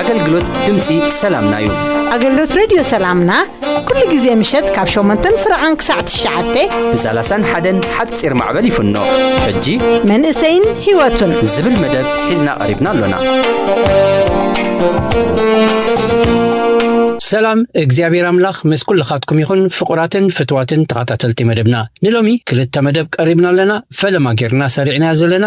ኣገልግሎት ድምፂ ሰላምና እዩ ኣገልግሎት ሬድዮ ሰላምና ኩሉ ግዜ ምሸት ካብ ሸሞንተን ፍረቓን ክሳዕ ትሽዓተ ብሰላሳን ሓደን ሓፂር ማዕበል ይፍኖ ሕጂ መንእሰይን ህይወቱን ዝብል መደብ ሒዝና ቀሪብና ኣሎና ሰላም እግዚኣብሔር ኣምላኽ ምስ ኩልኻትኩም ይኹን ፍቑራትን ፍትዋትን ተኸታተልቲ መደብና ንሎሚ ክልተ መደብ ቀሪብና ኣለና ፈለማ ጌርና ሰሪዕናዮ ዘለና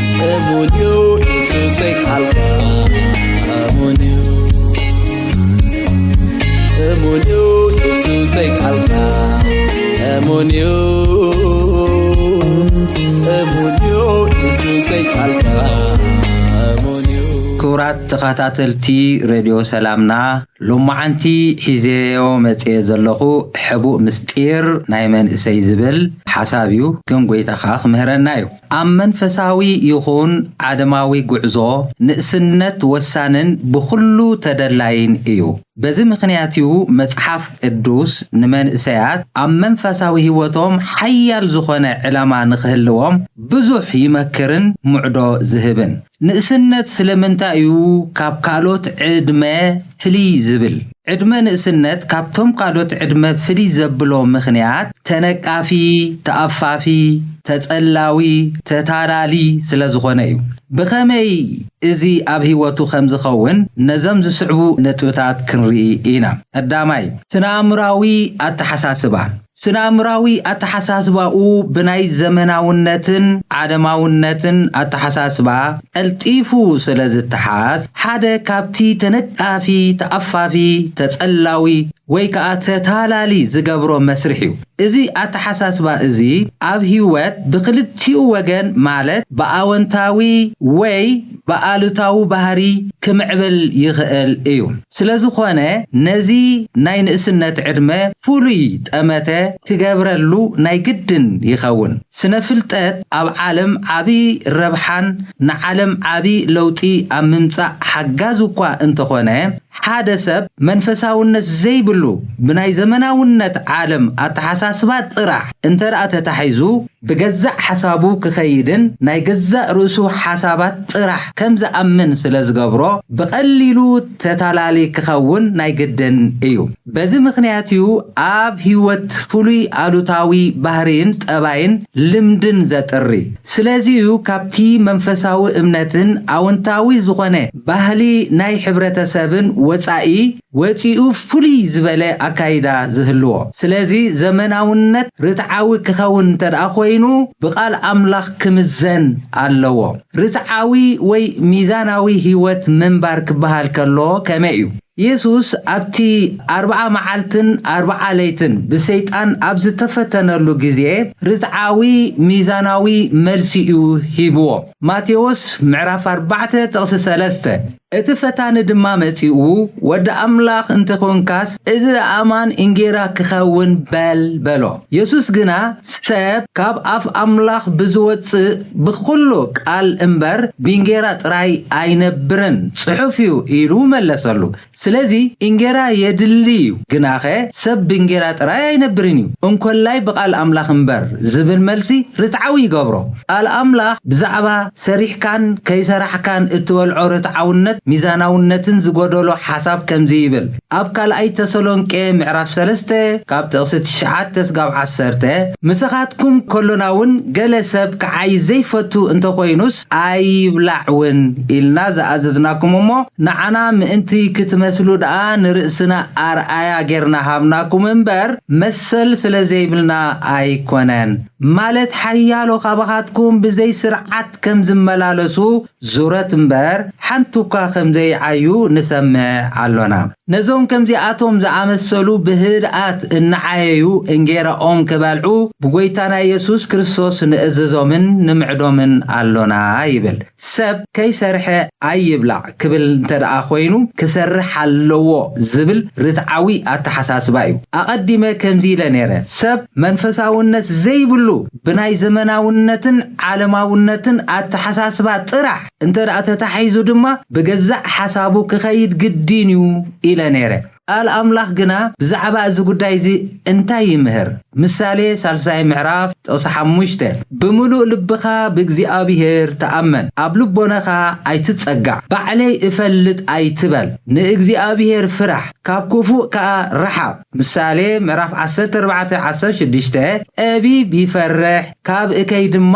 ክቡራት ተኸታተልቲ ሬድዮ ሰላምና ሎማዓንቲ ሒዜዮ መፅየ ዘለኹ ሕቡእ ምስጢር ናይ መንእሰይ ዝብል ሓሳብ እዩ ግን ጎይታ ከዓ ክምህረና እዩ ኣብ መንፈሳዊ ይኹን ዓለማዊ ጉዕዞ ንእስነት ወሳንን ብኹሉ ተደላይን እዩ። በዚ ምኽንያት'ዩ መጽሓፍ ቅዱስ ንመንእሰያት ኣብ መንፈሳዊ ህይወቶም ሓያል ዝኾነ ዕላማ ንኽህልዎም ብዙሕ ይመክርን ምዕዶ ዝህብን። ንእስነት ስለምንታይ እዩ ካብ ካልኦት ዕድመ ፍልይ ዝብል? ዕድመ ንእስነት ካብቶም ካልኦት ዕድመ ፍልይ ዘብሎ ምኽንያት ተነቃፊ፣ ተኣፋፊ፣ ተጸላዊ፣ ተታላሊ ስለዝኾነ እዩ። ብኸመይ እዚ ኣብ ህይወቱ ከምዝኸውን ነዞም ዝስዕቡ ነጥብታት ክንርኢ ኢና። ቀዳማይ፣ ስነ-ኣእምሮኣዊ ኣተሓሳስባ፣ ስነ-ኣእምሮኣዊ ኣተሓሳስባኡ ብናይ ዘመናውነትን ዓለማውነትን ኣተሓሳስባ ቀልጢፉ ስለ ዝተሓዝ፣ ሓደ ካብቲ ተነቃፊ፣ ተኣፋፊ፣ ተጸላዊ ወይ ከኣ ተታላሊ ዝገብሮ መስርሕ'ዩ። እዚ ኣተሓሳስባ እዚ ኣብ ህይወት ብክልቲኡ ወገን ማለት ብኣወንታዊ ወይ ብኣሉታዊ ባህሪ ክምዕብል ይኽእል እዩ። ስለዝኾነ ነዚ ናይ ንእስነት ዕድመ ፍሉይ ጠመተ ክገብረሉ ናይ ግድን ይኸውን። ስነ ፍልጠት ኣብ ዓለም ዓቢ ረብሓን ንዓለም ዓቢ ለውጢ ኣብ ምምጻእ ሓጋዚ እኳ እንተኾነ፣ ሓደ ሰብ መንፈሳውነት ዘይብሉ ብናይ ዘመናውነት ዓለም ኣተሓሳስባ ጥራሕ እንተድኣ ተታሒዙ፣ ብገዛእ ሓሳቡ ክኸይድን ናይ ገዛእ ርእሱ ሓሳባት ጥራሕ ከም ዝኣምን ስለ ዝገብሮ ብቐሊሉ ተታላሊ ክኸውን ናይ ግድን እዩ። በዚ ምኽንያት እዩ ኣብ ህይወት ፍሉይ ኣሉታዊ ባህርይን ጠባይን ልምድን ዘጥሪ። ስለዚ እዩ ካብቲ መንፈሳዊ እምነትን ኣወንታዊ ዝኾነ ባህሊ ናይ ሕብረተሰብን ወጻኢ፣ ወጺኡ ፍሉይ ዝበለ ኣካይዳ ዝህልዎ። ስለዚ ዘመናውነት ርትዓዊ ክኸውን እንተድኣ ኮይኑ ብቃል ኣምላኽ ክምዘን ኣለዎ። ርትዓዊ ወይ ሚዛናዊ ህይወት ምንባር ክበሃል ከሎ ከመይ እዩ? የሱስ ኣብቲ ኣርብዓ መዓልትን ኣርብዓ ለይትን ብሰይጣን ኣብ ዝተፈተነሉ ግዜ ርትዓዊ ሚዛናዊ መልሲ እዩ ሂብዎ፣ ማቴዎስ ምዕራፍ ኣርባዕተ ጥቕሲ ሰለስተ። እቲ ፈታኒ ድማ መጺኡ፣ ወዲ ኣምላኽ እንተ ዄንካስ፣ እዚ ኣእማን እንጌራ ኪኸውን በል፣ በሎ። የሱስ ግና፣ ሰብ ካብ ኣፍ ኣምላኽ ብዚወጽእ ብዅሉ ቃል እምበር፣ ብእንጌራ ጥራይ ኣይነብርን ጽሑፍ እዩ፣ ኢሉ መለሰሉ። ስለዚ፣ እንጌራ የድሊ እዩ፣ ግናኸ ሰብ ብእንጌራ ጥራይ ኣይነብርን እዩ፣ እንኮላይ ብቓል ኣምላኽ እምበር፣ ዚብል መልሲ ርትዓዊ ይገብሮ። ቃል ኣምላኽ ብዛዕባ። ሰሪሕካን ከይሰራሕካን እትበልዖ ርትዓውነት ሚዛናውነትን ዝጎደሎ ሓሳብ ከምዚ ይብል ኣብ ካልኣይ ተሰሎንቄ ምዕራፍ ሰለስተ ካብ ጥቕሲ ትሽዓተ ስጋብ ዓሰርተ ምሳኻትኩም ከሎናውን ገለ ሰብ ክዓዪ ዘይፈቱ እንተኾይኑስ ኣይብላዕ ውን ኢልና ዝኣዘዝናኩም እሞ ንዓና ምእንቲ ክትመስሉ ደኣ ንርእስና ኣርኣያ ጌርና ሃብናኩም እምበር መሰል ስለዘይብልና ኣይኮነን። ማለት ሓያሎ ካባኻትኩም ብዘይ ስርዓት ከም ዝመላለሱ ዙረት እምበር ሓንቲ እኳ ከም ዘይዓዩ ንሰምዕ ኣሎና። ነዞም ከምዚኣቶም ዝኣመሰሉ ብህድኣት እናዓየዩ እንጌራኦም ኪበልዑ ብጐይታና የሱስ ክርስቶስ ንእዝዞምን ንምዕዶምን ኣሎና ይብል። ሰብ ከይሰርሐ ኣይብላዕ ክብል እንተድኣ ኮይኑ ክሰርሕ ኣለዎ ዝብል ርትዓዊ ኣተሓሳስባ እዩ። ኣቐዲመ ከምዚ ኢለ ነይረ፣ ሰብ መንፈሳውነት ዘይብሉ ብናይ ዘመናውነትን ዓለማውነትን ኣተሓሳስባ ጥራሕ እንተድኣ ተታሒዙ ድማ ብገዛእ ሓሳቡ ክኸይድ ግድን እዩ ኢለ ነይረ። ቃል ኣምላኽ ግና ብዛዕባ እዚ ጕዳይ እዚ እንታይ ይምህር? ምሳሌ ሳልሳይ ምዕራፍ ጥቕሲ ሓሙሽተ፣ ብምሉእ ልብኻ ብእግዚኣብሄር ተኣመን፣ ኣብ ልቦናኻ ኣይትጸጋዕ፣ ባዕለይ እፈልጥ ኣይትበል፣ ንእግዚኣብሄር ፍራሕ፣ ካብ ክፉእ ከኣ ርሓቕ። ምሳሌ ምዕራፍ ዓሰርተ ኣርባዕተ ዓሰርተ ሽዱሽተ፣ ጠቢብ ይፈርሕ፣ ካብ እከይ ድማ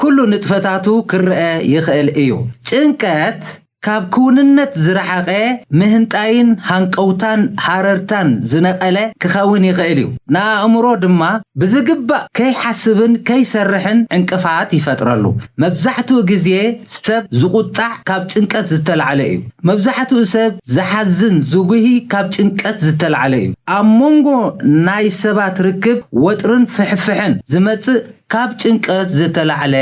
ኩሉ ንጥፈታቱ ክረኣ ይኽእል እዩ። ጭንቀት ካብ ክውንነት ዝረሓቐ ምህንጣይን ሃንቀውታን ሃረርታን ዝነቐለ ክኸውን ይኽእል እዩ። ንኣእምሮ ድማ ብዝግባእ ከይሓስብን ከይሰርሕን ዕንቅፋት ይፈጥረሉ። መብዛሕትኡ ግዜ ሰብ ዝቑጣዕ ካብ ጭንቀት ዝተላዕለ እዩ። መብዛሕትኡ ሰብ ዝሓዝን ዝጉሂ ካብ ጭንቀት ዝተላዕለ እዩ። ኣብ መንጎ ናይ ሰባት ርክብ ወጥርን ፍሕፍሕን ዝመጽእ ካብ ጭንቀት ዝተላዕለ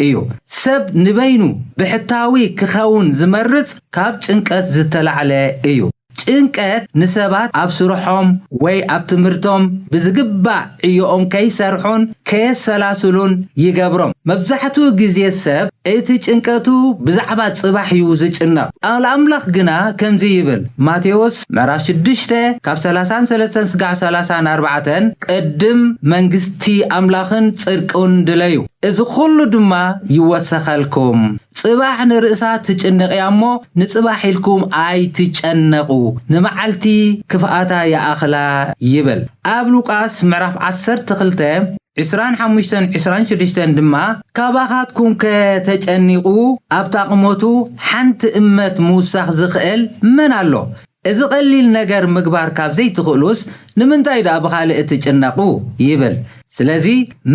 እዩ። ሰብ ንበይኑ ብሕታዊ ክኸውን ዝመርጽ ካብ ጭንቀት ዝተላዕለ እዩ። ጭንቀት ንሰባት ኣብ ስርሖም ወይ ኣብ ትምህርቶም ብዝግባእ ዕዮኦም ከይሰርሑን ከየሰላስሉን ይገብሮም። መብዛሕትኡ ግዜ ሰብ እቲ ጭንቀቱ ብዛዕባ ጽባሕ እዩ ዝጭነቕ። ቃል ኣምላኽ ግና ከምዚ ይብል፣ ማቴዎስ ምዕራፍ ሽዱሽተ ካብ ሰላሳን ሰለስተን ስጋዕ ሰላሳን ኣርባዕተን፣ ቅድም መንግስቲ ኣምላኽን ጽድቁን ድለዩ፣ እዚ ዅሉ ድማ ይወሰኸልኩም። ጽባሕ ንርእሳ ትጭንቕ እያ እሞ፣ ንጽባሕ ኢልኩም ኣይትጨነቑ፣ ንመዓልቲ ክፍኣታ ይኣኽላ ይብል። ኣብ ሉቃስ ምዕራፍ ዓሰርተ ክልተ ዕስራን ሓሙሽተን ዕስራን ሽዱሽተን ድማ፣ ካባኻትኩምከ ተጨኒቑ፣ ኣብታ ቝመቱ ሓንቲ እመት ምውሳኽ ዚኽእል መን ኣሎ? እዚ ቐሊል ነገር ምግባር ካብ ዘይትኽእሉስ ንምንታይ ድኣ ብኻልእ ትጭነቑ? ይብል። ስለዚ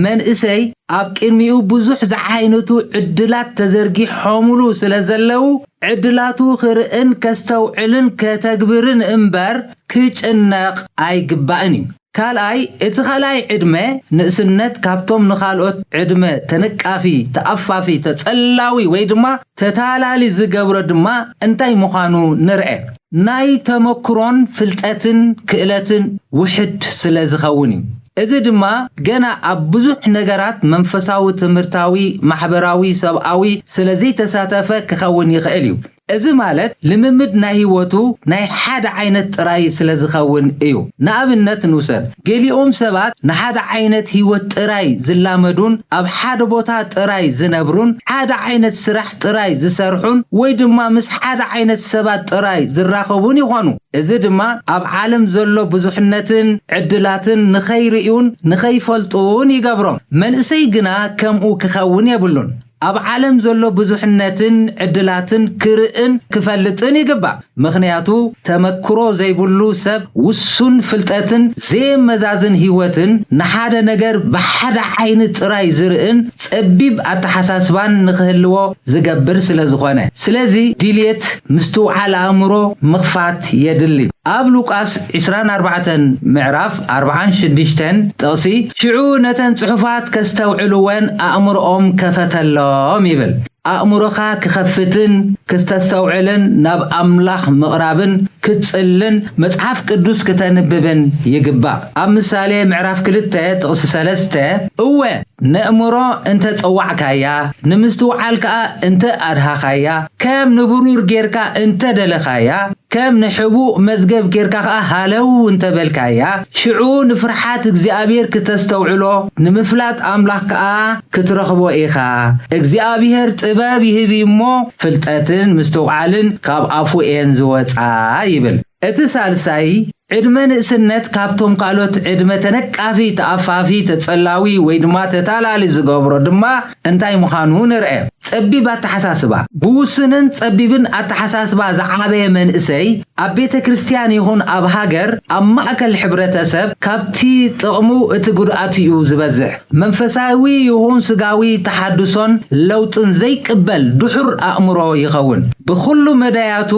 መንእሰይ ኣብ ቅድሚኡ ብዙሕ ዝዓይነቱ ዕድላት ተዘርጊሖምሉ ስለ ዘለዉ ዕድላቱ ክርእን ከስተውዕልን ከተግብርን እምበር ክጭነቕ ኣይግባእን እዩ። ካልኣይ፣ እቲ ካልኣይ ዕድመ፣ ንእስነት፣ ካብቶም ንካልኦት ዕድመ ተነቃፊ፣ ተኣፋፊ፣ ተጸላዊ ወይ ድማ ተታላሊ ዝገብሮ ድማ እንታይ ምዃኑ ንርኣ። ናይ ተመክሮን ፍልጠትን ክእለትን ውሕድ ስለ ዝኸውን እዩ። እዚ ድማ ገና ኣብ ብዙሕ ነገራት መንፈሳዊ፣ ትምህርታዊ፣ ማሕበራዊ፣ ሰብኣዊ ስለ ዘይተሳተፈ ክኸውን ይኽእል እዩ። እዚ ማለት ልምምድ ናይ ህይወቱ ናይ ሓደ ዓይነት ጥራይ ስለ ዝኸውን እዩ። ንኣብነት ንውሰድ፣ ገሊኦም ሰባት ንሓደ ዓይነት ህይወት ጥራይ ዝላመዱን ኣብ ሓደ ቦታ ጥራይ ዝነብሩን፣ ሓደ ዓይነት ስራሕ ጥራይ ዝሰርሑን ወይ ድማ ምስ ሓደ ዓይነት ሰባት ጥራይ ዝራኸቡን ይኾኑ። እዚ ድማ ኣብ ዓለም ዘሎ ብዙሕነትን ዕድላትን ንኸይርእዩን ንኸይፈልጡን ይገብሮም። መንእሰይ ግና ከምኡ ክኸውን የብሉን። ኣብ ዓለም ዘሎ ብዙሕነትን ዕድላትን ክርእን ክፈልጥን ይግባእ። ምኽንያቱ ተመክሮ ዘይብሉ ሰብ ውሱን ፍልጠትን ዘየመዛዝን ህይወትን፣ ንሓደ ነገር ብሓደ ዓይኒ ጥራይ ዝርእን ጸቢብ ኣተሓሳስባን ንኽህልዎ ዝገብር ስለዝኾነ። ስለዚ ድልየት ምስትውዓል ኣእምሮ ምኽፋት የድሊ። ኣብ ሉቃስ ዕስራን ኣርባዕተን ምዕራፍ፣ ኣርብዓን ሽዱሽተን ጥቕሲ፣ ሽዑ ነተን ጽሑፋት ከስተውዕልወን ኣእምሮኦም ከፈተሎም ይብል። ኣእምሮኻ ክኸፍትን ክስተስተውዕልን ናብ ኣምላኽ ምቕራብን ክትጽልን መጽሓፍ ቅዱስ ክተንብብን ይግባእ። ኣብ ምሳሌ ምዕራፍ ክልተ ጥቕሲ ሰለስተ፣ እወ! ነእምሮ እንተ ጸዋዕካያ፣ ንምስትውዓል ከኣ እንተ ኣድሃኻያ፣ ከም ንብሩር ጌርካ እንተ ደለኻያ፣ ከም ንሕቡእ መዝገብ ጌርካ ከኣ ሃለው እንተ በልካያ፣ ሽዑ ንፍርሓት እግዚኣብሄር ክተስተውዕሎ፣ ንምፍላጥ ኣምላኽ ከኣ ክትረኽቦ ኢኻ። እግዚኣብሄር ጥበብ ይህብ እዩ እሞ፣ ፍልጠትን ምስትውዓልን ካብ ኣፉ እየን ዝወጻ ይብል። እቲ ሳልሳይ ዕድመ ንእስነት ካብቶም ካልኦት ዕድመ ተነቃፊ፣ ተኣፋፊ፣ ተጸላዊ ወይ ድማ ተታላሊ ዝገብሮ ድማ እንታይ ምዃኑ ንርኣ። ጸቢብ ኣተሓሳስባ፣ ብውሱንን ጸቢብን ኣተሓሳስባ ዝዓበየ መንእሰይ ኣብ ቤተ ክርስቲያን ይኹን ኣብ ሃገር ኣብ ማእከል ሕብረተ ሰብ ካብቲ ጥቕሙ እቲ ጉድኣቱ'ዩ ዝበዝሕ። መንፈሳዊ ይኹን ስጋዊ ተሓድሶን ለውጥን ዘይቅበል ድሑር ኣእምሮ ይኸውን። ብኹሉ መዳያቱ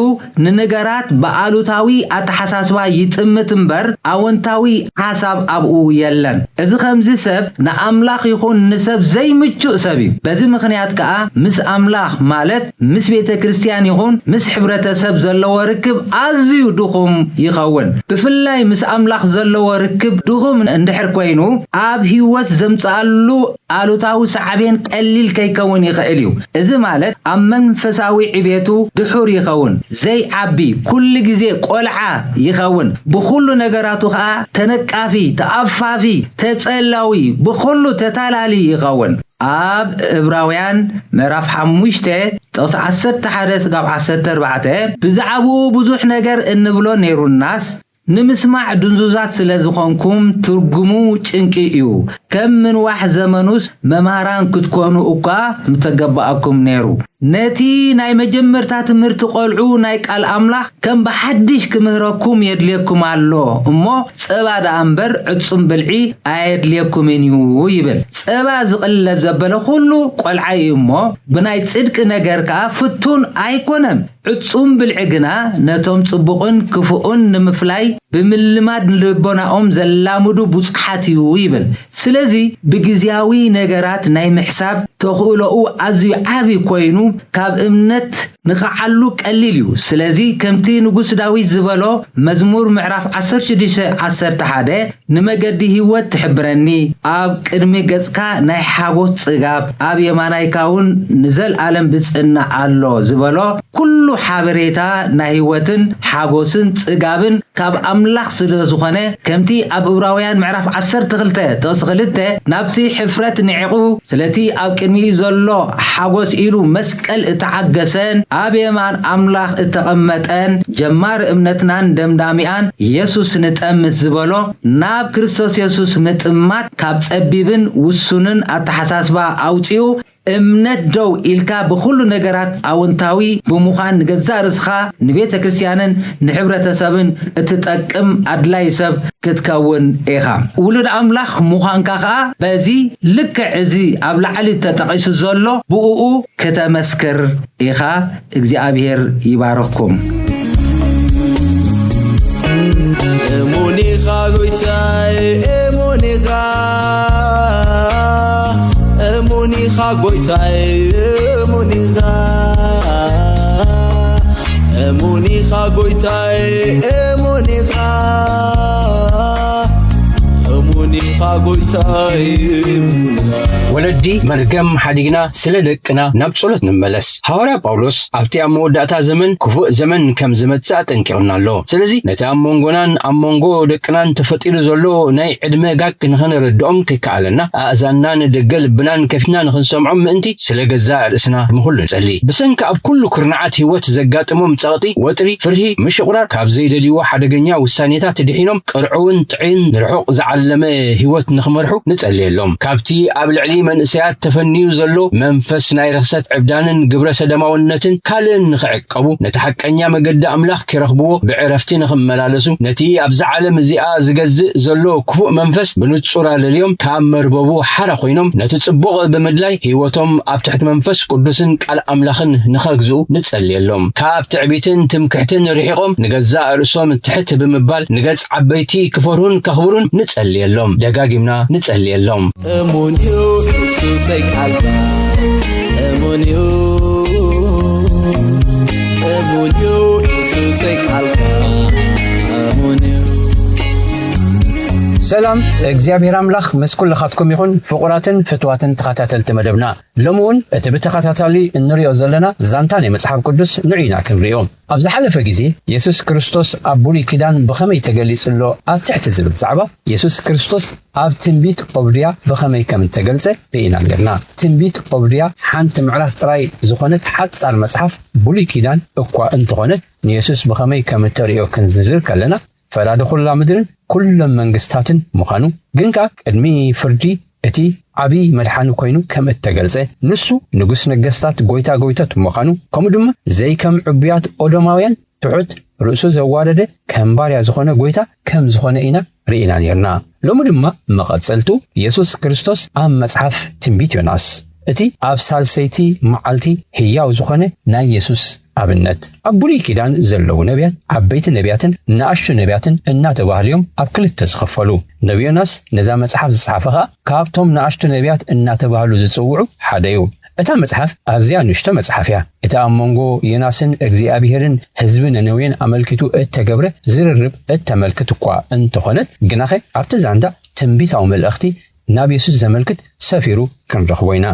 ንነገራት ብኣሉታዊ ኣተሓሳስባ ይጥምት እምበር ኣወንታዊ ሓሳብ ኣብኡ የለን። እዚ ኸምዚ ሰብ ንኣምላኽ ይኹን ንሰብ ዘይምቹእ ሰብ እዩ። በዚ ምኽንያት ከኣ ምስ ኣምላኽ ማለት ምስ ቤተ ክርስትያን ይኹን ምስ ሕብረተ ሰብ ዘለዎ ርክብ ኣዝዩ ድኹም ይኸውን። ብፍላይ ምስ ኣምላኽ ዘለዎ ርክብ ድኹም እንድሕር ኮይኑ ኣብ ሕይወት ዘምጽኣሉ ኣሉታዊ ሳዕቤን ቀሊል ከይከውን ይኽእል እዩ፣ እዚ ማለት ኣብ መንፈሳዊ ዕቤቱ ድሑር ይኸውን፣ ዘይዓቢ፣ ኩሉ ግዜ ቆልዓ ይኸውን፣ ብኹሉ ነገራቱ ከኣ ተነቃፊ፣ ተኣፋፊ፣ ተጸላዊ፣ ብኹሉ ተታላሊ ይኸውን። ኣብ እብራውያን ምዕራፍ ሓሙሽተ ጥቕሲ ዓሰርተ ሓደ ስጋብ ዓሰርተ ኣርባዕተ ብዛዕባኡ ብዙሕ ነገር እንብሎ ነይሩናስ፣ ንምስማዕ ድንዙዛት ስለ ዝኾንኩም ትርጉሙ ጭንቂ እዩ። ከም ምንዋሕ ዘመኑስ መማህራን ክትኮኑ እኳ ምተገበኣኩም ነይሩ። ነቲ ናይ መጀመርታ ትምህርቲ ቆልዑ ናይ ቃል ኣምላኽ ከም ብሓድሽ ክምህረኩም የድልየኩም ኣሎ እሞ ጸባ ደኣ እምበር ዕጹም ብልዒ ኣየድልየኩምን እዩ ይብል። ጸባ ዝቅለብ ዘበለ ኩሉ ቆልዓይ እዩ እሞ ብናይ ጽድቂ ነገር ከኣ ፍቱን ኣይኮነን። ዕጹም ብልዒ ግና ነቶም ጽቡቕን ክፉእን ንምፍላይ ብምልማድ ንልቦናኦም ዘላምዱ ቡጹሓት እዩ ይብል። ስለዚ ብግዝያዊ ነገራት ናይ ምሕሳብ ተኽእሎኡ ኣዝዩ ዓቢ ኮይኑ ካብ እምነት ንቕዓሉ ቀሊል እዩ። ስለዚ ከምቲ ንጉስ ዳዊት ዝበሎ መዝሙር ምዕራፍ ዓሰርተ ሽዱሽተ ዓሰርተ ሓደ ንመገዲ ህይወት ትሕብረኒ፣ ኣብ ቅድሚ ገጽካ ናይ ሓጎስ ጽጋብ፣ ኣብ የማናይካውን ንዘልኣለም ብጽእና ኣሎ ዝበሎ ኩሉ ሓበሬታ ናይ ህይወትን ሓጎስን ጽጋብን ካብ ኣምላኽ ስለ ዝኾነ ከምቲ ኣብ እብራውያን ምዕራፍ ዓሰርተ ክልተ ጥቕሲ ክልተ ናብቲ ሕፍረት ንዒቑ ስለቲ ኣብ ቅድሚኡ ዘሎ ሓጎስ ኢሉ መስቀል እተዓገሰን ኣብ የማን ኣምላኽ እተቐመጠን ጀማሪ እምነትናን ደምዳሚኣን የሱስ ንጠ ምስ ዝበሎ ናብ ክርስቶስ የሱስ ምጥማት ካብ ጸቢብን ውሱንን ኣተሓሳስባ ኣውጺኡ እምነት ደው ኢልካ ብኹሉ ነገራት ኣወንታዊ ብምዃን ንገዛእ ርእስኻ ንቤተ ክርስትያንን ንሕብረተሰብን እትጠቅም ኣድላዪ ሰብ ክትከውን ኢኻ። ውሉድ ኣምላኽ ምዃንካ ከኣ በዚ ልክዕ እዚ ኣብ ላዕሊ ተጠቒሱ ዘሎ ብእኡ ክተመስክር ኢኻ። እግዚኣብሄር ይባርኽኩም። እሙን ኢኻ ጎይታይ እሙን ኢኻ እሙን ኢኻ ጎይታይ እሙን ኢኻ እሙን ኢኻ ጎይታይ እሙን ኢኻ እሙን ኢኻ ጎይታይ እሙን ኢኻ ወለዲ መርገም ሓዲግና ስለ ደቅና ናብ ጸሎት ንመለስ ሃዋርያ ጳውሎስ ኣብቲ ኣብ መወዳእታ ዘመን ክፉእ ዘመን ከም ዝመጽእ ኣጠንቂቕና ኣሎ ስለዚ ነቲ ኣብ መንጎናን ኣብ መንጎ ደቅናን ተፈጢሩ ዘሎ ናይ ዕድመ ጋግ ንኸነረድኦም ከኣለና ኣእዛንና ንደገ ልብናን ከፊትና ንኽንሰምዖም ምእንቲ ስለ ገዛእ ርእስና ንኹሉ ንጸሊ። ብሰንኪ ኣብ ኩሉ ኩርናዓት ህይወት ዘጋጥሞም ጸቕጢ፣ ወጥሪ፣ ፍርሂ፣ ምሽቑራር፣ ካብ ዘይደልይዎ ሓደገኛ ውሳኔታት ድሒኖም ቅርዑውን ጥዕይን ንርሑቕ ዝዓለመ ህይወት ንኽመርሑ ንጸልየሎም። ካብቲ ኣብ ልዕሊ መንእሰያት ተፈንዩ ዘሎ መንፈስ ናይ ርኽሰት ዕብዳንን ግብረ ሰደማውነትን ካልእን ንኽዕቀቡ፣ ክዕቀቡ፣ ነቲ ሓቀኛ መገዲ ኣምላኽ ኪረኽብዎ፣ ብዕረፍቲ ንኺመላለሱ፣ ነቲ ኣብዛ ዓለም እዚኣ ዚገዝእ ዘሎ ክፉእ መንፈስ ብንጹር ኣለልዮም፣ ካብ መርበቡ ሓራ ዀይኖም ነቲ ጽቡቕ ብምድላይ ህይወቶም ኣብ ትሕቲ መንፈስ ቅዱስን ቃል ኣምላኽን ንኸግዝኡ ንጸልየሎም። ካብ ትዕቢትን ትምክሕትን ርሒቖም ንገዛእ ርእሶም ትሕት ብምባል ንገጽ ዓበይቲ ኪፈርሁን ከኽብሩን ንጸልየሎም። ደጋጊምና ንጸልየሎም። እሙን እዩ የሱሰይ ቃልካ እሙን እዩ እሙን እዩ የሱሰይ ቃልካ እሙን እዩ ሰላም እግዚኣብሔር ኣምላኽ ምስ ኩልኻትኩም ይኹን ፍቑራትን ፍትዋትን ተኸታተልቲ መደብና ሎሚ እውን እቲ ብተኸታታሊ እንሪኦ ዘለና ዛንታ ናይ መጽሓፍ ቅዱስ ንዑና ክንሪኦ ኣብ ዝሓለፈ ግዜ የሱስ ክርስቶስ ኣብ ብሉይ ኪዳን ብኸመይ ተገሊጹ ኣሎ ኣብ ትሕቲ ዝብል ዛዕባ የሱስ ክርስቶስ ኣብ ትንቢት ኦብድያ ብኸመይ ከም እተገልጸ ርኢና ኔርና። ትንቢት ኦብድያ ሓንቲ ምዕራፍ ጥራይ ዝኾነት ሓጻር መጽሓፍ ብሉይ ኪዳን እኳ እንተኾነት ንየሱስ ብኸመይ ከም እተርእዮ ክንዝርዝር ከለና፣ ፈራዲ ኹላ ምድርን ኩሎም መንግስታትን ምዃኑ ግን ከኣ ቅድሚ ፍርዲ እቲ ዓቢ መድሓኒ ኮይኑ ከም እተገልጸ ንሱ ንጉስ ነገስታት ጎይታ ጎይቶት ምዃኑ ከምኡ ድማ ዘይከም ዕቡያት ኦዶማውያን ትሑት ርእሱ ዘዋረደ ከም ባርያ ዝኾነ ጎይታ ከም ዝኾነ ኢና ርኢና ኔርና ሎሚ ድማ መቐጸልቱ የሱስ ክርስቶስ ኣብ መጽሓፍ ትንቢት ዮናስ እቲ ኣብ ሳልሰይቲ መዓልቲ ህያው ዝኾነ ናይ የሱስ ኣብነት ኣብ ብሉይ ኪዳን ዘለዉ ነብያት ዓበይቲ ነብያትን ንኣሽቱ ነብያትን እናተባህሉ እዮም ኣብ ክልተ ዝኸፈሉ። ነቢ ዮናስ ነዛ መጽሓፍ ዝጸሓፈ ከኣ ካብቶም ንኣሽቱ ነብያት እናተባህሉ ዝጽውዑ ሓደ እዩ። እታ መጽሓፍ ኣዝያ ንእሽቶ መጽሓፍ እያ። እቲ ኣብ መንጎ ዮናስን እግዚኣብሄርን ህዝቢ ነነዌን ኣመልኪቱ እተገብረ ዝርርብ እተመልክት እኳ እንተኾነት ግናኸ ኣብቲ ዛንታ ትንቢታዊ መልእኽቲ ናብ የሱስ ዘመልክት ሰፊሩ ክንረኽቦ ኢና።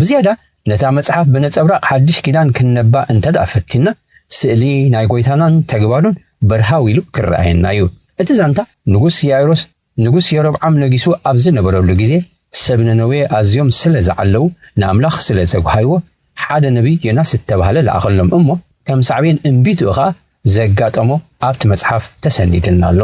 ብዝያዳ ነታ መጽሓፍ ብነጸብራቕ ሓድሽ ኪዳን ክንነባ እንተ ደኣ ፈቲንና፣ ስእሊ ናይ ጐይታናን ተግባሩን በርሃው ኢሉ ክረኣየና እዩ። እቲ ዛንታ፣ ንጉስ ያይሮስ ንጉስ የሮብዓም ነጊሱ ኣብ ዝነበረሉ ግዜ፣ ሰብ ነነዌ ኣዝዮም ስለ ዝዓለዉ ንኣምላኽ ስለ ዘጕሃይዎ፣ ሓደ ነብዪ ዮናስ እተባህለ ለኣኸሎም እሞ፣ ከም ሳዕቤን እምቢትኡ ኸኣ ዘጋጠሞ ኣብቲ መጽሓፍ ተሰኒድልና ኣሎ።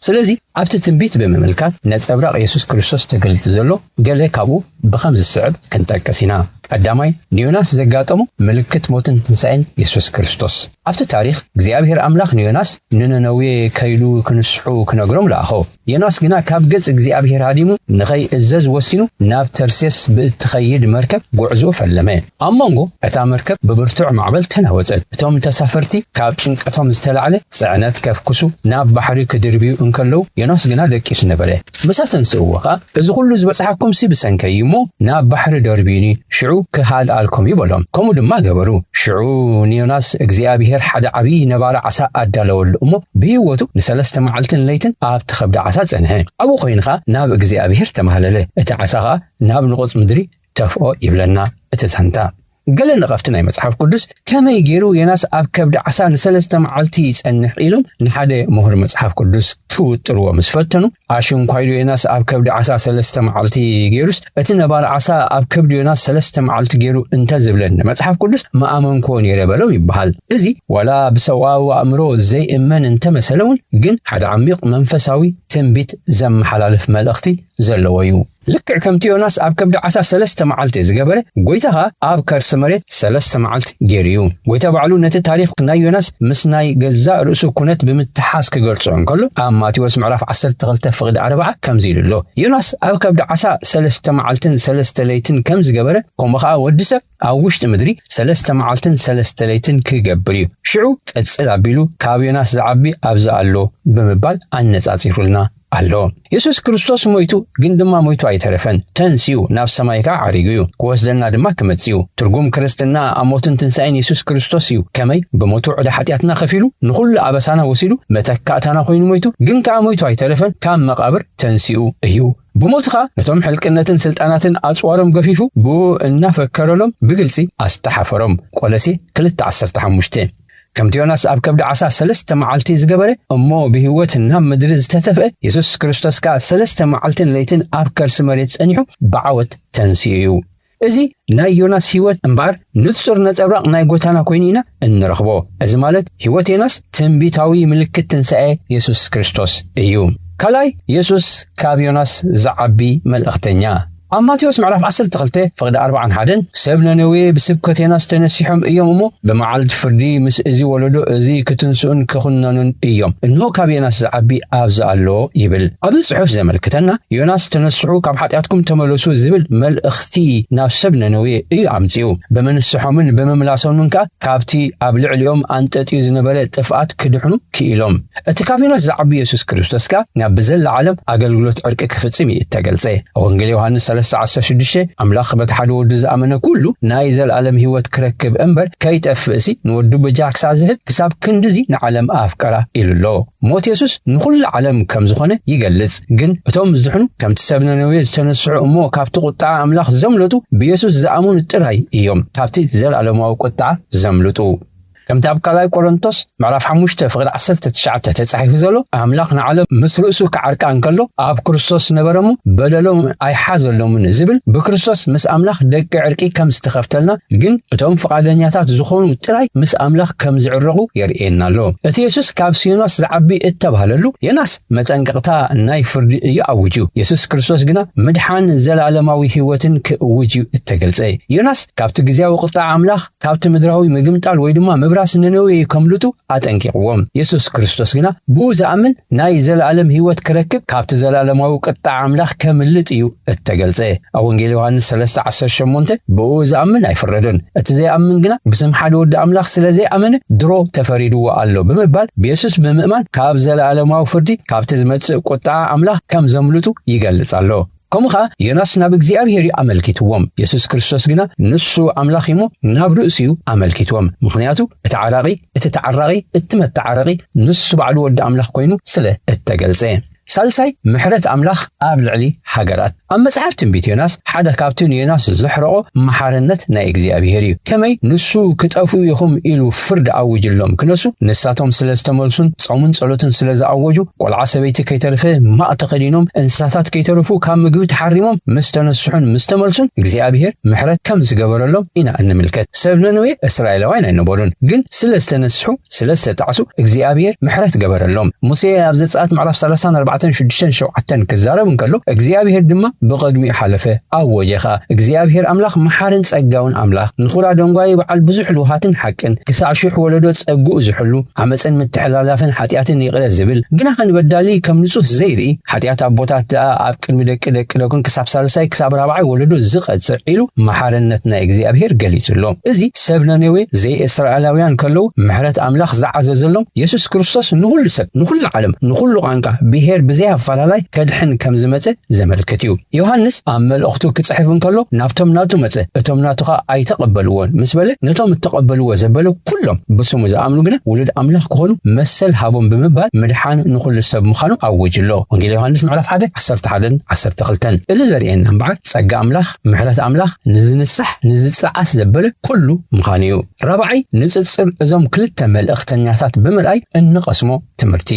ስለዚ ኣብቲ ትንቢት ብምምልካት ነጸብራቕ የሱስ ክርስቶስ ተገሊጹ ዘሎ ገለ ካብኡ ብኸም ዝስዕብ ክንጠቅስ ኢና። ቀዳማይ፣ ንዮናስ ዘጋጠሞ ምልክት ሞትን ትንሳኤን የሱስ ክርስቶስ። ኣብቲ ታሪኽ እግዚኣብሄር ኣምላኽ ንዮናስ ንነነዌ ከይሉ ክንስሑ ክነግሮም ለኣኾ። ዮናስ ግና ካብ ገጽ እግዚኣብሄር ሃዲሙ ንኸይእዘዝ ወሲኑ ናብ ተርሴስ ብእትኸይድ መርከብ ጕዕዞ ፈለመ። ኣብ መንጎ እታ መርከብ ብብርቱዕ ማዕበል ተናወጸት። እቶም ተሳፈርቲ ካብ ጭንቀቶም ዝተላዕለ ጽዕነት ከፍኵሱ ናብ ባሕሪ ክድርብዩ እንከለዉ ዮናስ ግና ደቂሱ ነበረ። ምሳተንስእዎ ኸኣ እዚ ዅሉ ዝበጽሓኩምሲ ብሰንከይ እዩ እሞ፣ ናብ ባሕሪ ደርብዩኒ፣ ሽዑ ክሃድኣልኩም እዩ በሎም። ከምኡ ድማ ገበሩ። ሽዑ ንዮናስ እግዚኣብሄር ሓደ ዓብዪ ነባሪ ዓሳ ኣዳለወሉ እሞ፣ ብህይወቱ ንሰለስተ መዓልትን ለይትን ኣብቲ ኸብዲ ዓሳ ጸንሐ። ኣብኡ ዀይኑ ኸኣ ናብ እግዚኣብሄር ተማህለለ፣ እቲ ዓሳ ኸኣ ናብ ንቑጽ ምድሪ ተፍኦ ይብለና እቲ ዛንታ። ገለ ነቐፍቲ ናይ መጽሓፍ ቅዱስ ከመይ ገይሩ ዮናስ ኣብ ከብዲ ዓሳ ንሰለስተ መዓልቲ ይጸንሕ ኢሎም ንሓደ ምሁር መጽሓፍ ቅዱስ ክውጥርዎ ምስ ፈተኑ ኣሽንኳይዶ ዮናስ ኣብ ከብዲ ዓሳ ሰለስተ መዓልቲ ገይሩስ እቲ ነባሪ ዓሳ ኣብ ከብዲ ዮናስ ሰለስተ መዓልቲ ገይሩ እንተዝብለኒ መጽሓፍ ቅዱስ ምኣመንክዎ ነይረ በሎም ይበሃል እዚ ዋላ ብሰብኣዊ ኣእምሮ ዘይእመን እንተመሰለ እውን ግን ሓደ ዓሚቕ መንፈሳዊ ትንቢት ዘመሓላልፍ መልእኽቲ ዘለዎ እዩ ልክዕ ከምቲ ዮናስ ኣብ ከብዲ ዓሳ ሰለስተ መዓልቲ ዝገበረ፣ ጐይታ ኸኣ ኣብ ከርሲ መሬት ሰለስተ መዓልቲ ገይሩ እዩ። ጐይታ ባዕሉ ነቲ ታሪኽ ናይ ዮናስ ምስ ናይ ገዛእ ርእሱ ኵነት ብምትሓዝ ክገልጾ እንከሎ፣ ኣብ ማቴዎስ ምዕራፍ ዓሰርተ ክልተ ፍቕዲ ኣርብዓ ከምዚ ኢሉ ኣሎ፣ ዮናስ ኣብ ከብዲ ዓሳ ሰለስተ መዓልትን ሰለስተ ለይትን ከም ዝገበረ፣ ከምኡ ኸኣ ወዲ ሰብ፣ ኣብ ውሽጢ ምድሪ ሰለስተ መዓልትን ሰለስተ ለይትን ኪገብር እዩ፣ ሽዑ ቅጽል ኣቢሉ ካብ ዮናስ ዚዓቢ ኣብዚ ኣሎ ብምባል ኣነጻጺሩልና ኣሎ። የሱስ ክርስቶስ ሞይቱ፣ ግን ድማ ሞይቱ ኣይተረፈን። ተንሲኡ፣ ናብ ሰማይ ከኣ ዓሪጉ እዩ፣ ኪወስደና ድማ ኪመጽእ እዩ። ትርጉም ክርስትና ኣብ ሞትን ትንሳኤን የሱስ ክርስቶስ እዩ፣ ከመይ ብሞቱ ዕዳ ሓጢኣትና ከፊሉ፣ ንኹሉ ኣበሳና ወሲዱ፣ መተካእታና ኮይኑ ሞይቱ፣ ግን ከኣ ሞይቱ ኣይተረፈን፣ ካብ መቓብር ተንሲኡ እዩ። ብሞት ኸኣ ነቶም ሕልቅነትን ስልጣናትን ኣጽዋሮም ገፊፉ ብኡ እናፈከረሎም ብግልጺ ኣስተሓፈሮም። ቆለሴ ክልተ ዓሰርተ ሓሙሽተ። ከምቲ ዮናስ ኣብ ከብዲ ዓሳ ሰለስተ መዓልቲ ዝገበረ እሞ ብህይወት ናብ ምድሪ ዝተተፍአ የሱስ ክርስቶስ ከኣ ሰለስተ መዓልትን ለይትን ኣብ ከርሲ መሬት ጸኒሑ ብዓወት ተንሲኡ እዩ። እዚ ናይ ዮናስ ህይወት እምበኣር ንጹር ነጸብራቕ ናይ ጎታና ኮይኑ ኢና እንረኽቦ። እዚ ማለት ህይወት ዮናስ ትንቢታዊ ምልክት ትንሣኤ የሱስ ክርስቶስ እዩ። ካልኣይ የሱስ ካብ ዮናስ ዝዓቢ መልእኽተኛ። ኣብ ማቴዎስ ምዕራፍ ዓሰርተ ክልተ ፍቕዲ ኣርብዓን ሓደን ሰብ ነነዌ ብስብከት ዮናስ ተነሲሖም እዮም እሞ ብመዓልቲ ፍርዲ ምስ እዚ ወለዶ እዚ ክትንስኡን ክኹነኑን እዮም። እንሆ ካብ ዮናስ ዝዓቢ ኣብዚ ኣሎ ይብል። ኣብዚ ጽሑፍ ዘመልክተና ዮናስ ተነስሑ ካብ ሓጢኣትኩም ተመለሱ ዝብል መልእኽቲ ናብ ሰብ ነነዌ እዩ ኣምጺኡ። ብምንስሖምን ብምምላሶምን ከኣ ካብቲ ኣብ ልዕሊኦም ኣንጠጥዩ ዝነበረ ጥፍኣት ክድሕኑ ክኢሎም። እቲ ካቢኖት ዝዓቢ የሱስ ክርስቶስ ከኣ ናብ ብዘላ ዓለም ኣገልግሎት ዕርቂ ክፍጽም እዩ እተገልጸ። ወንጌል ዮሃንስ ሰለስተ ዓሰርተ ሽዱሽተ ኣምላኽ በቲ ሓደ ወዱ ዝኣመነ ኩሉ ናይ ዘልኣለም ህይወት ክረክብ እምበር ከይጠፍእሲ ንወዱ በጃ ክሳዕ ዝህብ ክሳብ ክንድዚ ንዓለም ኣፍቀራ ኢሉ ኣሎ። ሞት የሱስ ንኹሉ ዓለም ከም ዝኾነ ይገልጽ። ግን እቶም ዝድሕኑ ከምቲ ሰብ ነነዌ ዝተነስሑ እሞ ካብቲ ቁጥዓ ኣምላኽ ዘምለጡ ብየሱስ ዝኣምኑ ጥራይ እዮም ካብቲ ዘልኣለማዊ ቁጥዓ ዘምልጡ። ከምቲ ኣብ ካልኣይ ቆሮንቶስ ምዕራፍ ሓሙሽተ ፍቕዲ ዓሰርተ ትሽዓተ ተጻሒፉ ዘሎ ኣምላኽ ንዓለም ምስ ርእሱ ክዓርቃ እንከሎ ኣብ ክርስቶስ ነበረሙ በደሎም ኣይሓዘሎምን ዝብል ብክርስቶስ ምስ ኣምላኽ ደቂ ዕርቂ ከም ዝተኸፍተልና ግን እቶም ፍቓደኛታት ዝኾኑ ጥራይ ምስ ኣምላኽ ከም ዝዕረቑ የርእየና ኣሎ። እቲ የሱስ ካብ ሲኖስ ዝዓቢ እተባህለሉ የናስ መጠንቀቕታ ናይ ፍርዲ እዩ ኣውጁ የሱስ ክርስቶስ ግና ምድሓን ዘለኣለማዊ ህይወትን ክእውጅ እዩ እተገልጸ ዮናስ ካብቲ ግዜያዊ ቁጣዕ ኣምላኽ ካብቲ ምድራዊ ምግምጣል ወይ ድማ ምብራስ ነነዌ ከምልጡ ኣጠንቂቕዎም። የሱስ ክርስቶስ ግና ብኡ ዝኣምን ናይ ዘለኣለም ህይወት ክረክብ ካብቲ ዘለኣለማዊ ቅጥዓ ኣምላኽ ከምልጥ እዩ እተገልጸ። ኣብ ወንጌል ዮሃንስ ሰለስተ ዓሰርተ ሸሞንተ ብኡ ዝኣምን ኣይፍረዶን፣ እቲ ዘይኣምን ግና ብስም ሓደ ወዲ ኣምላኽ ስለ ዘይኣመነ ድሮ ተፈሪድዎ ኣሎ ብምባል ብየሱስ ብምእማን ካብ ዘለኣለማዊ ፍርዲ ካብቲ ዝመጽእ ቁጥዓ ኣምላኽ ከም ዘምልጡ ይገልጽ ኣሎ። ከምኡ ኸኣ ዮናስ ናብ እግዚኣብሔር እዩ ኣመልኪትዎም፣ የሱስ ክርስቶስ ግና ንሱ ኣምላኽ እዩ እሞ ናብ ርእሱ እዩ ኣመልኪትዎም፣ ምኽንያቱ እቲ ዓራቒ እቲ ተዓራቒ እቲ መተዓረቒ ንሱ ባዕሉ ወዲ ኣምላኽ ኮይኑ ስለ እተገልጸ። ሳልሳይ ምሕረት ኣምላኽ ኣብ ልዕሊ ሃገራት። ኣብ መጽሓፍ ትንቢት ዮናስ ሓደ ካብቲ ንዮናስ ዘሕረቖ መሓርነት ናይ እግዚኣብሔር እዩ፣ ከመይ ንሱ ክጠፍኡ ኢኹም ኢሉ ፍርዲ ኣውጅሎም ክነሱ ንሳቶም ስለ ዝተመልሱን ጾምን ጸሎትን ስለ ዝኣወጁ ቆልዓ ሰበይቲ ከይተርፈ ማቅ ተኸዲኖም እንስሳታት ከይተረፉ ካብ ምግቢ ተሓሪሞም ምስ ተነስሑን ምስ ተመልሱን እግዚኣብሔር ምሕረት ከም ዝገበረሎም ኢና እንምልከት። ሰብ ነነዌ እስራኤላውያን ኣይነበሩን፣ ግን ስለ ዝተነስሑ ስለ ዝተጣዕሱ እግዚኣብሔር ምሕረት ገበረሎም። ሙሴ ኣብ ዘጸኣት ምዕራፍ 30 4 6 7 ክዛረብ እንከሎ እግዚኣብሔር ድማ ብቐድሚኡ ሓለፈ ኣወጀ ኸኣ እግዚኣብሔር ኣምላኽ መሓርን ጸጋውን ኣምላኽ ንኹራ ደንጓዩ በዓል ብዙሕ ልውሃትን ሓቅን ክሳዕ ሽሕ ወለዶ ጸግኡ ዝሕሉ ዓመጽን ምትሕላላፍን ሓጢኣትን ይቕረ ዝብል ግናኸ ንበዳሊ ከም ንጹህ ዘይርኢ ሓጢኣት ኣቦታት ደኣ ኣብ ቅድሚ ደቂ ደቂ ደቁን ክሳብ ሳልሳይ ክሳብ ራብዓይ ወለዶ ዝቐጽዕ ኢሉ መሓርነት ናይ እግዚኣብሔር ገሊጹ ኣሎ። እዚ ሰብ ነነዌ ዘይእስራኤላውያን ከለዉ ምሕረት ኣምላኽ ዝዓዘዘሎም የሱስ ክርስቶስ ንኹሉ ሰብ ንኹሉ ዓለም ንኹሉ ቛንቃ ብሄር ብዘይ ኣፈላላይ ከድሕን ከም ዝመጸ ዘመልክት እዩ። ዮሃንስ ኣብ መልእኽቱ ክጽሕፍ እንከሎ ናብቶም ናቱ መጸ እቶም ናቱ ኸኣ ኣይተቐበልዎን ምስ በለ ነቶም እተቐበልዎ ዘበለ ኩሎም ብስሙ ዝኣምኑ ግና ውሉድ ኣምላኽ ክኾኑ መሰል ሃቦም ብምባል ምድሓን ንኹሉ ሰብ ምዃኑ ኣወጁ ኣሎ። ወንጌል ዮሃንስ ምዕራፍ ሓደ ዓሰርተ ሓደን ዓሰርተ ክልተን እዚ ዘርእየና እምበኣር ጸጋ ኣምላኽ ምሕረት ኣምላኽ ንዝንሳሕ ንዝጸዓስ ዘበለ ኩሉ ምዃኑ እዩ። ራብዓይ ንጽጽር እዞም ክልተ መልእኽተኛታት ብምርኣይ እንቐስሞ ትምህርቲ።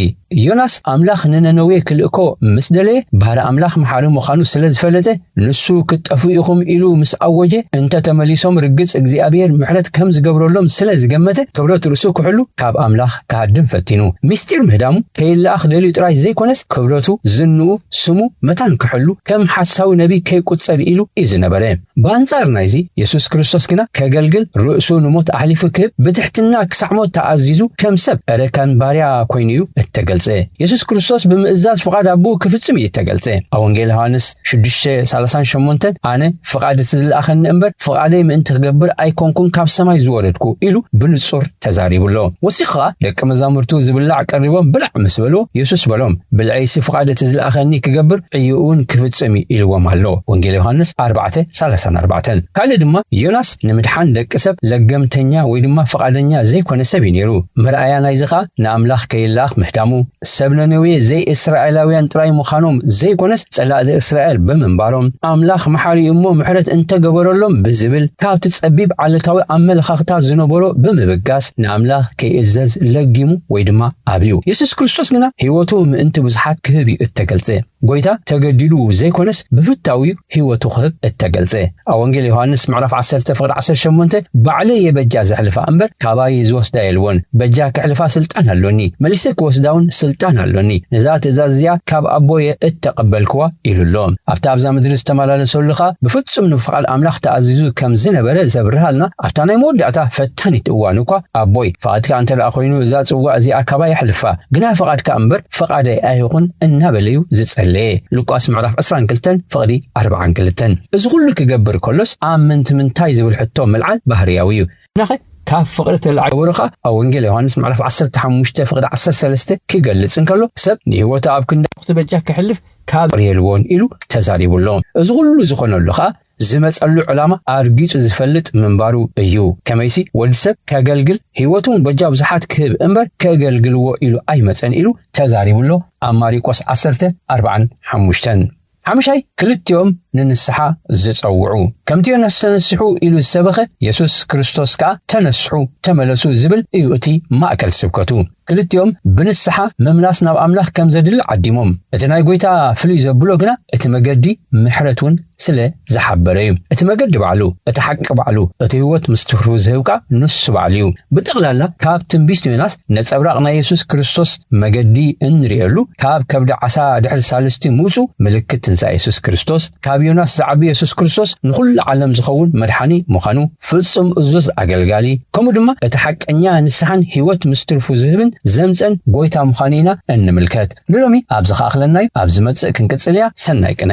ዮናስ ኣምላኽ ንነነዌ ክልእኮ ምስ ደለየ፣ ባህሪ ኣምላኽ መሓሪ ምዃኑ ስለ ዝፈለጠ፣ ንሱ ክትጠፍኡ ኢኹም ኢሉ ምስ ኣወጀ፣ እንተ ተመሊሶም ርግጽ እግዚኣብሄር ምሕረት ከም ዝገብረሎም ስለ ዝገመተ፣ ክብረት ርእሱ ክሕሉ ካብ ኣምላኽ ክሃድም ፈቲኑ። ምስጢር ምህዳሙ ከይለኣኽ ደልዩ ጥራይ ዘይኰነስ፣ ክብረቱ፣ ዝንኡ፣ ስሙ፣ መታን ክሕሉ ከም ሓሳዊ ነብዪ ከይቍጸር ኢሉ ኢዩ ዝነበረ። ብኣንጻር ናይዚ፣ የሱስ ክርስቶስ ግና ከገልግል፣ ርእሱ ንሞት ኣሕሊፉ ክህብ፣ ብትሕትና ክሳዕ ሞት ተኣዚዙ፣ ከም ሰብ፣ እረካን ባርያ ኰይኑ እዩ እተገልጸ። የሱስ ክርስቶስ ብምእዛዝ ፍቓድ ኣቦኡ ክፍጽም እዩ እተገልጸ። ኣብ ወንጌል ዮሃንስ ሽዱሽተ ሳላሳን ሸሞንተን ኣነ ፍቓድ እቲ ዝለኣኸኒ እምበር፣ ፍቓደይ ምእንቲ ክገብር ኣይኰንኩን ካብ ሰማይ ዝወረድኩ ኢሉ ብንጹር ተዛሪቡ ኣሎ። ወሲኹ ኸኣ ደቀ መዛሙርቱ ዚብላዕ ቀሪቦም ብላዕ ምስ በሉ፣ የሱስ በሎም፣ ብልዐይሲ ፍቓድ እቲ ዝለኣኸኒ ኪገብር ዕዮኡውን ኪፍጽም እዩ ኢልዎም ኣሎ። ወንጌል ዮሃንስ ኣርባዕተ፣ ሰላሳን ኣርባዕተን። ካልእ ድማ ዮናስ ንምድሓን ደቂ ሰብ ለገምተኛ ወይ ድማ ፍቓደኛ ዘይኰነ ሰብ እዩ ነይሩ። መርኣያ ናይዚ ኸኣ ንኣምላኽ ከይለኣኽ ምህዳሙ፣ ሰብ ነነዌ ዘይእስራኤላውያን ጥራይ ምዃኖም ዘይኮነስ ጸላእቲ እስራኤል ብምንባሮም ኣምላኽ መሓሪ እሞ ምሕረት እንተገበረሎም ብዝብል ካብቲ ጸቢብ ዓለታዊ ኣመለኻኽታ ዝነበሮ ብምብጋስ ንኣምላኽ ከይእዘዝ ለጊሙ ወይ ድማ ኣብዩ። የሱስ ክርስቶስ ግና ህይወቱ ምእንቲ ብዙሓት ክህብ እዩ እተገልጸ። ጐይታ ተገዲዱ ዘይኰነስ ብፍታው'ዩ ህይወቱ ክህብ እተገልጸ። ኣብ ወንጌል ዮሃንስ ምዕራፍ ዓሰርተ ፍቕዲ ዓሰርተ ሸሞንተ ባዕለይ'የ በጃ ዘሕልፋ እምበር ካባይ ዝወስዳ የልቦን፣ በጃ ከሕልፋ ስልጣን ኣሎኒ፣ መሊሰ ክወስዳውን ስልጣን ኣሎኒ፣ ነዛ ትእዛዝ እዚኣ ካብ ኣቦ'የ እተቐበልክዋ ኢሉ ኣሎ። ኣብቲ ኣብዛ ምድሪ ዝተመላለሰሉ ኸኣ ብፍጹም ንፍቓድ ኣምላኽ ተኣዚዙ ከም ዝነበረ ዘብርሃልና ኣብታ ናይ መወዳእታ ፈታኒት እዋኑ እኳ ኣቦይ፣ ፍቓድካ እንተ ደኣ ኰይኑ እዛ ጽዋእ እዚኣ ካባይ ኣሕልፋ፣ ግና ፍቓድካ እምበር ፈቓደይ ኣይኹን እናበለ እዩ ዝጸለየ። ሉቃስ ምዕራፍ ዕስራን ክልተን ፍቕዲ ኣርብዓን ክልተን። እዚ ኩሉ ክገብር ከሎስ ኣብ ምንትምንታይ ዝብል ሕቶ ምልዓል ባህርያዊ እዩ። ግናኸ ካብ ፍቕሪ ተላዒሉ ክገብሮ ከኣ ኣብ ወንጌል ዮሃንስ ምዕራፍ ዓሰርተ ሓሙሽተ ፍቕዲ ዓሰርተ ሰለስተ ክገልጽ እንከሎ ሰብ ንህይወቱ ኣብ ክንዲ ኣዕሩኽቱ በጃ ከሕልፍ ካብ ፍቕሪ የልቦን ኢሉ ተዛሪቡ ኣሎ። እዚ ኩሉ ዝኾነሉ ከኣ ዝመጸሉ ዕላማ ኣርጊጹ ዝፈልጥ ምንባሩ እዩ። ከመይሲ ወዲ ሰብ ከገልግል ሕይወቱን በጃ ብዙሓት ክህብ እምበር ከገልግልዎ ኢሉ ኣይመጸን ኢሉ ተዛሪቡሎ ኣብ ማሪቆስ ዓሰርተ ኣርብዓን ሓሙሽተን። ሓምሻይ ክልቲኦም ንንስሓ ዝጸውዑ ከምቲ ዮናስ ተነስሑ ኢሉ ዝሰበኸ የሱስ ክርስቶስ ከኣ ተነስሑ ተመለሱ ዝብል እዩ እቲ ማእከል ስብከቱ። ክልቲኦም ብንስሓ ምምላስ ናብ ኣምላኽ ከም ዘድሊ ዓዲሞም። እቲ ናይ ጐይታ ፍልይ ዘብሎ ግና እቲ መገዲ ምሕረት እውን ስለ ዝሓበረ እዩ። እቲ መገዲ ባዕሉ፣ እቲ ሓቂ ባዕሉ፣ እቲ ህይወት ምስ ትርፉ ዝህብ ከኣ ንሱ ባዕሉ እዩ። ብጠቕላላ ካብ ትንቢት ዮናስ ነጸብራቕ ናይ የሱስ ክርስቶስ መገዲ እንርእየሉ ካብ ከብዲ ዓሳ ድሕሪ ሳልስቲ ምውጹ ምልክት ትንሳኤ የሱስ ክርስቶስ ካብ ዮናስ ዝዓቢ የሱስ ክርስቶስ ንኹሉ ዓለም ዝኸውን መድሓኒ ምዃኑ ፍጹም እዙዝ ኣገልጋሊ ከምኡ ድማ እቲ ሓቀኛ ንስሓን ሕይወት ምስ ትርፉ ዝህብን ዘምጽእን ጐይታ ምዃኑ ኢና እንምልከት። ንሎሚ ኣብዚ ክኣኽለና እዩ፣ ኣብ ዝመጽእ ክንቅጽል እያ፣ ሰናይ ቅነ።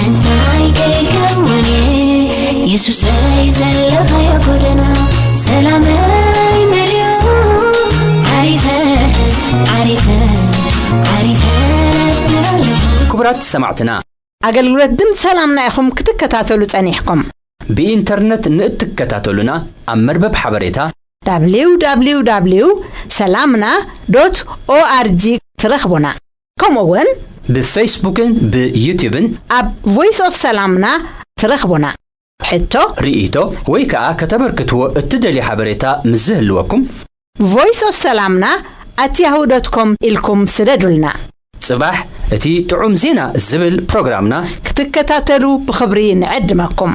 እንታይ ከይከውን የሱሰይ ዘለኻዮ ጎደና ሰላመይ መሊኡ ዓሪፈ ዓሪፈ ዓሪፈ ክቡራት ሰማዕትና ኣገልግሎት ድምፂ ሰላምና ኢኹም ክትከታተሉ ጸኒሕኩም ብኢንተርነት ንእትከታተሉና ኣብ መርበብ ሓበሬታ www ሰላምና ኦርg ትረኽቡና ከምኡ ውን ብፈይስቡክን ብዩቱብን ኣብ ቮይስ ኦፍ ሰላምና ትረኽቡና። ሕቶ፣ ርእይቶ ወይ ከኣ ከተበርክትዎ እትደልዩ ሓበሬታ ምስ ዝህልወኩም። ቮይስ ኦፍ ሰላምና ኣት ያሁ ዶት ኮም ኢልኩም ስደዱልና። ጽባሕ እቲ ጥዑም ዜና ዝብል ፕሮግራምና። ክትከታተሉ ብኽብሪ ንዕድመኩም።